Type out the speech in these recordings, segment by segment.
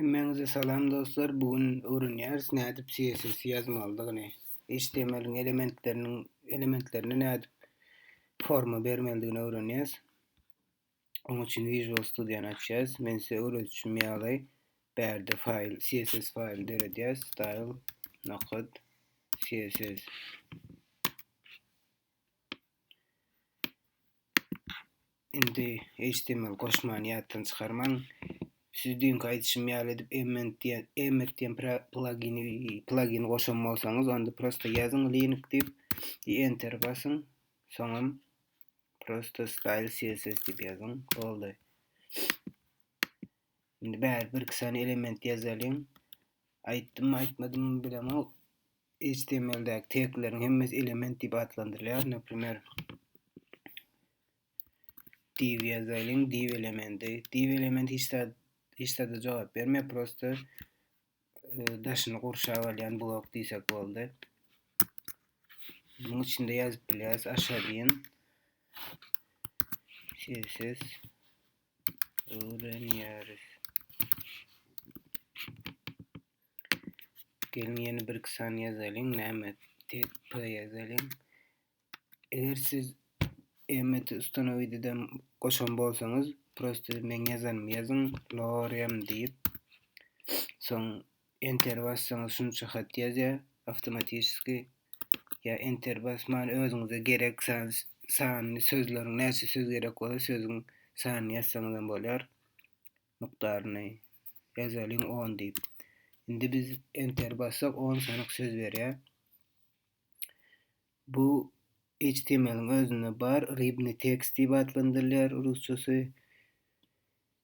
Hemmäňize salam dostlar, bu gün öwrenýäris nädip CSS ýazmalydygyny, HTML-iň elementleriniň elementlerine nädip forma bermelidigini öwrenýäs. Onuň üçin Visual Studio-ny açýas. Men size öwredişim ýaly bärde faýl, CSS faýly döredýäs. Style nokot CSS. Indi HTML goşmany ýatdan çykarmaň. Siz düýnki aýdyşym ýaly edip emmet diýen emmet diýen plugini plugini goşan bolsaňyz, onda prosta ýazyň link diýip, enter basyň. Soňam prosta style CSS diýip ýazyň. Boldy. Indi bäri birki sany element ýazalyň. Aýtdymmy, aýtmadymmy bilemok. HTML-däki tegleriň hemmesi element diýip atlandyrylýar. Naprimer, div ýazalyň, div elementi. Div elementi hiç zat hiç zada jogap bermeýär, prosta e, daşyny gurşap alýan blok diýsek boldy. Munuň içinde ýazyp bilýäris aşa diýen. Siz Öwrenýäris. Geliň ýene bir iki sany ýazalyň. Näme? TP ýazalyň. Eger siz emmet ustanowideden goşan bolsaňyz, prosta men ýazan ýazyň, lorem diýip. Soň Enter bassaňyz şunça hat ýazýar awtomatiski. Ýa enter basman özüňize gerek sanyny sözleriň näçe söz gerek bolsa sözüň sanyny ýazsaňyz hem bolar. Mukdaryny ýazalyň on diýip. Indi biz enter bassak on sanyk söz berýär. Bu HTML-iň özünde bar, ribny tekst diýip atlandyrylýar rusçasy.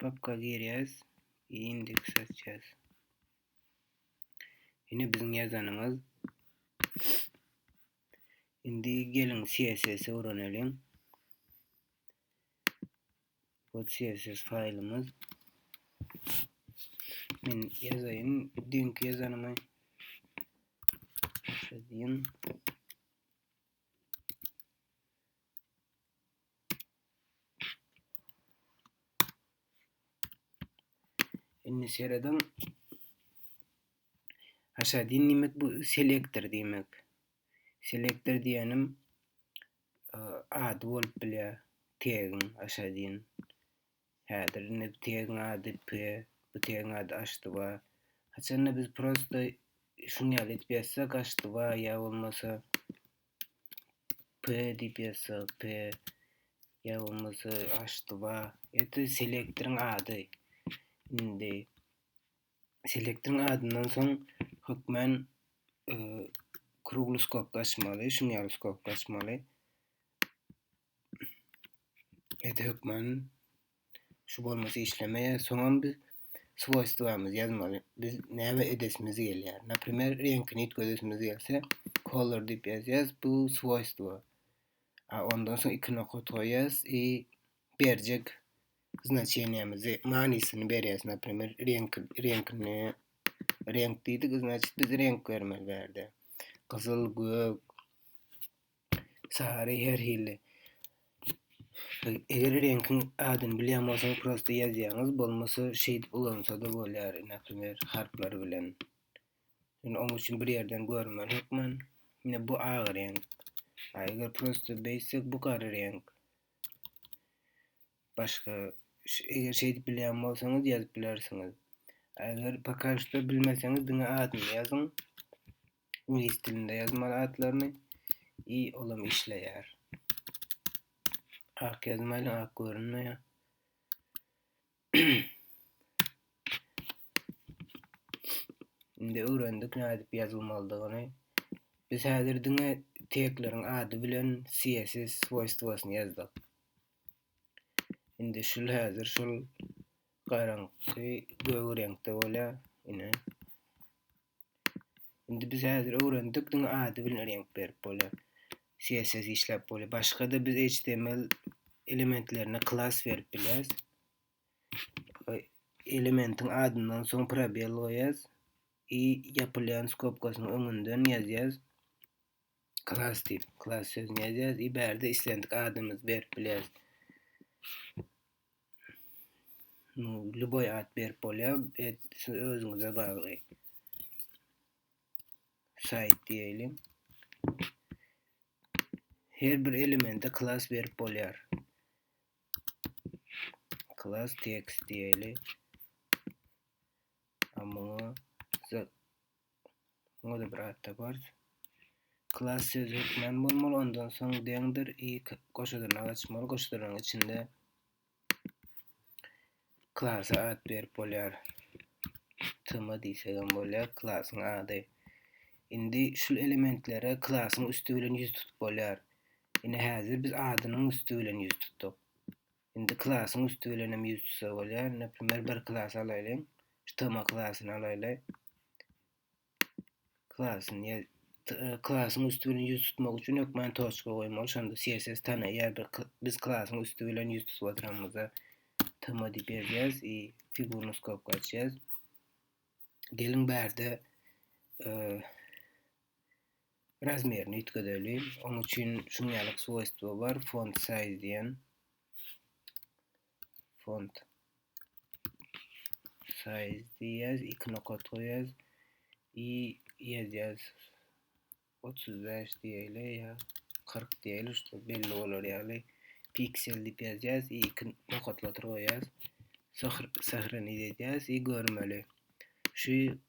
Papka girýäs. Indeks açýas. Ine biziň ýazanymyz. Indi geliň CSS öwrenelim. Bu CSS faýlymyz. Men ýazaýyn dink ýazanymy. Şeýdin. Indi seredin. Aşağı din demek bu selektor demek. Selektor diýenim e, ady bolup bilýär. Tegin aşağı din. Häzir indi tegin ady P, bu tegin ady Aştyba. Haçanda biz prosta şuny ýaly etip ýazsak Aştyba ýa bolmasa P diýip ýazsak, P ýa bolmasa H2A. Ýa-da selektoryň ady. Indi selektoryň adyndan soň hökmän e, krugly skok açmaly, şuny ýaly skok açmaly. Ede hökman şu bolmasy işlemeýär. Soňam biz swoýstwamyzy ýazmaly. Biz näme edesimiz gelýär. Naprimer, reňkini üýtgedesimiz gelse, color diýip ýazýas, bu swoýstwo. A ondan soň iki nokat goýýas i berjek znaçeniýemizi, manysyny berýäs. Naprimer, reňk reňkini reňk diýdik, значит biz reňk bermeli bärde. Gyzyl, gök, Sary her hili. Eger reňkiň adyny bilýän bolsaň, prosta ýazýaňyz, bolmasa şeýdip ulansa-da bolýar, näprimýer, harplar bilen. Indi onuň üçin bir ýerden görmeli hökman. Ine bu ak reňk. A eger prosta beýtsek bu gara reňk. Başga eger şeýdip bilýän bolsaňyz ýazyp bilersiňiz. Eger poka şu bilmeseňiz diňe adyny ýazyň. Iňlis dilinde ýazmaly atlaryny. I olam işleýär. Ak ýazmaýly ak görünmeýär. Indi öwrendik nädip ýazylmalydygyny. Biz häzir diňe tegleriň ady bilen CSS swoýstwosyny ýazdyk. Indi şul häzir şul garaňky gög reňkde bolýar. Ine. Indi biz häzir öwrendik, diňe ady bilen reňk berip bolýar. CSS işläp bolýar. Başga-da biz HTML elementlerine klas berip bilýäris. Elementin adyndan soň probel goýýas i ýapylýan skobkasynyň öňünden ýazýas. Klas diýip, klas sözüni ýazýas i bärde islendik adymyzy berip bilýäris. No, ljuboý at berip bolýar. Et siz özüňize bagly. Saýt diýeýin. Her bir elemente klas berip bolýar. Klas tekst diýeýin. Amma Muňa-da bir atda gors. Klas sözi hökmän bolmaly, ondan soň deňdir i goşadyrnak açmaly. Goşadyrnagyň içinde klasa at berip bolýar. Tm diýsek hem bolýar, klasyň ady. Indi şu elementlere klasyň üsti bilen ýüz tutup bolýar. Ine häzir biz adynyň üsti bilen ýüz tutduk. Indi klasyň üsti bilen hem ýüz tutsa bolýar. Neprimýer bir klasy alaýlyň. Ştoma klasyny alaýly. Klasyny e, klasyň üsti bilen ýüz tutmak üçin hökman toçka goýmaly. Şonda CSS tanaýar. Bir biz klasyň üsti bilen ýüz tutup oturanymyzda tma diýip ýazýarys i figurny skopka açýarys. Geliň bärde e, Razmerini üýtgedeli. Oň üçin şuň ýaly swojstwo bar, font size diýen. Font size diýýäs, iki nokat goýýas. I ýazýas 35 diýeli ýa 40 diýeli, şu belli bolar ýaly. Piksel diýip ýazýas, i iki nokatlatyr goýýas. Sahra ni diýýäs, i görmeli. Şu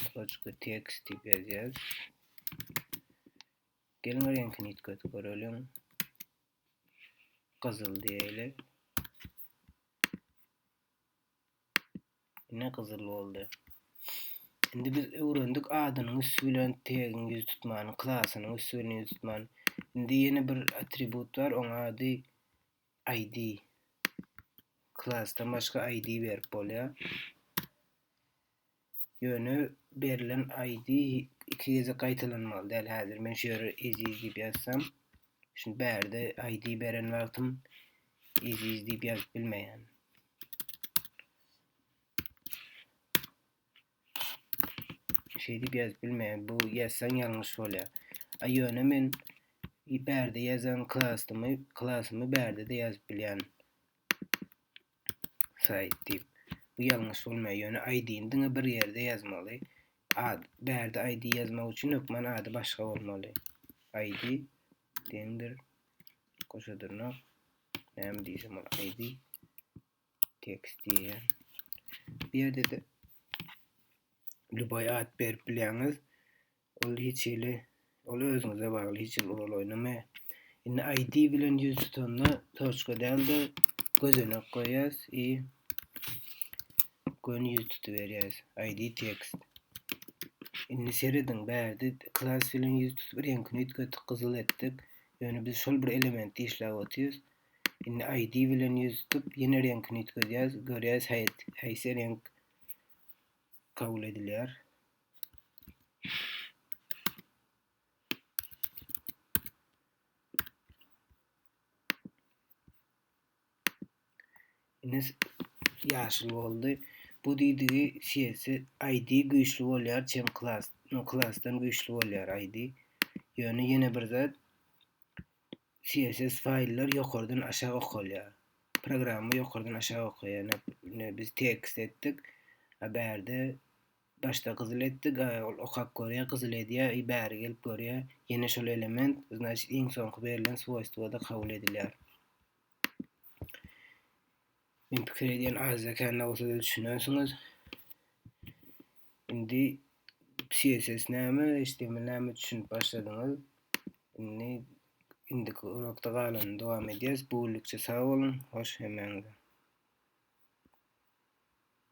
Kısacıkly text diýip ýazýarys. Geliň reňkini ýitgetip göreliň. Gyzyl diýeli. Ne gyzyl boldy. Şimdi biz öwrendik adynyň üstü bilen tegiň ýüz tutmany, klasynyň üstü bilen ýüz tutmany. Şimdi ýene bir atribut bar, onuň ady ID. Klasdan başga ID berip bolýar. Ýöne berlen ID iki gezek gaýtalanmaly däl. Häzir men şu ýere eziz diýip ýazsam, şimdi bärde ID beren wagtym eziz diýip ýazyp bilmeýän. Şeýdip ýazyp bilmeýän. Bu ýazsaň ýalňyş bolýar. A ýöne men bärde ýazan klasymy, klasymy bärde-de ýazyp bilýän. Saýt diýip. Bu ýalňyş bolmaýar. Ýöne ID-ni diňe bir ýerde ýazmaly. Ad, bärde ID ýazmak üçin hökman ady başga bolmaly. ID deňdir. Goşa dyrnak. Näme diýsem ol ID. Text diýýän. Bu ýerde-de lýuboý at berip bilýäňiz. Ol hiç hili, ol özüňize bagly, hiç hili rol oýnamaýar. Indi ID bilen ýüz tutanda toçka däl-de gözenek goýýas i göni ýüz tutuberýäs. ID text. Indi serediň, bärde klas bilen ýüz tutup reňkini üýtgetdik, gyzyl etdik. Ýöne biz şol bir elementi işläp otyrys. Indi ID bilen ýüz tutup, ýene reňkini üýtgedýäs. Görýäs, haýsy reňk kabul edilýär. Indi ýaşyl boldy. Bu diýdigi CS ID güýçli bolýar, çem klas, no klasdan güýçli bolýar ID. Ýöne ýene bir zat CSS faýllar ýokardan aşak okalýar. Programma ýokardan aşak okaýar. Indi biz tekst etdik. A bärde başda gyzyl etdik. Ol okap görýär, gyzyl edýär. I bäri gelip görýär. Ýene şol element, znaçyt iň soňky berlen swoýstwada kabul edilýär. Men pikir edýän Aziýa kände bolsa siz düşünersiňiz. Indi CSS näme, HTML näme düşünip başladyňyz. Indi indiki urokda galanyny dowam edýäs. Bu günlükçe sag boluň, hoş hemäňize.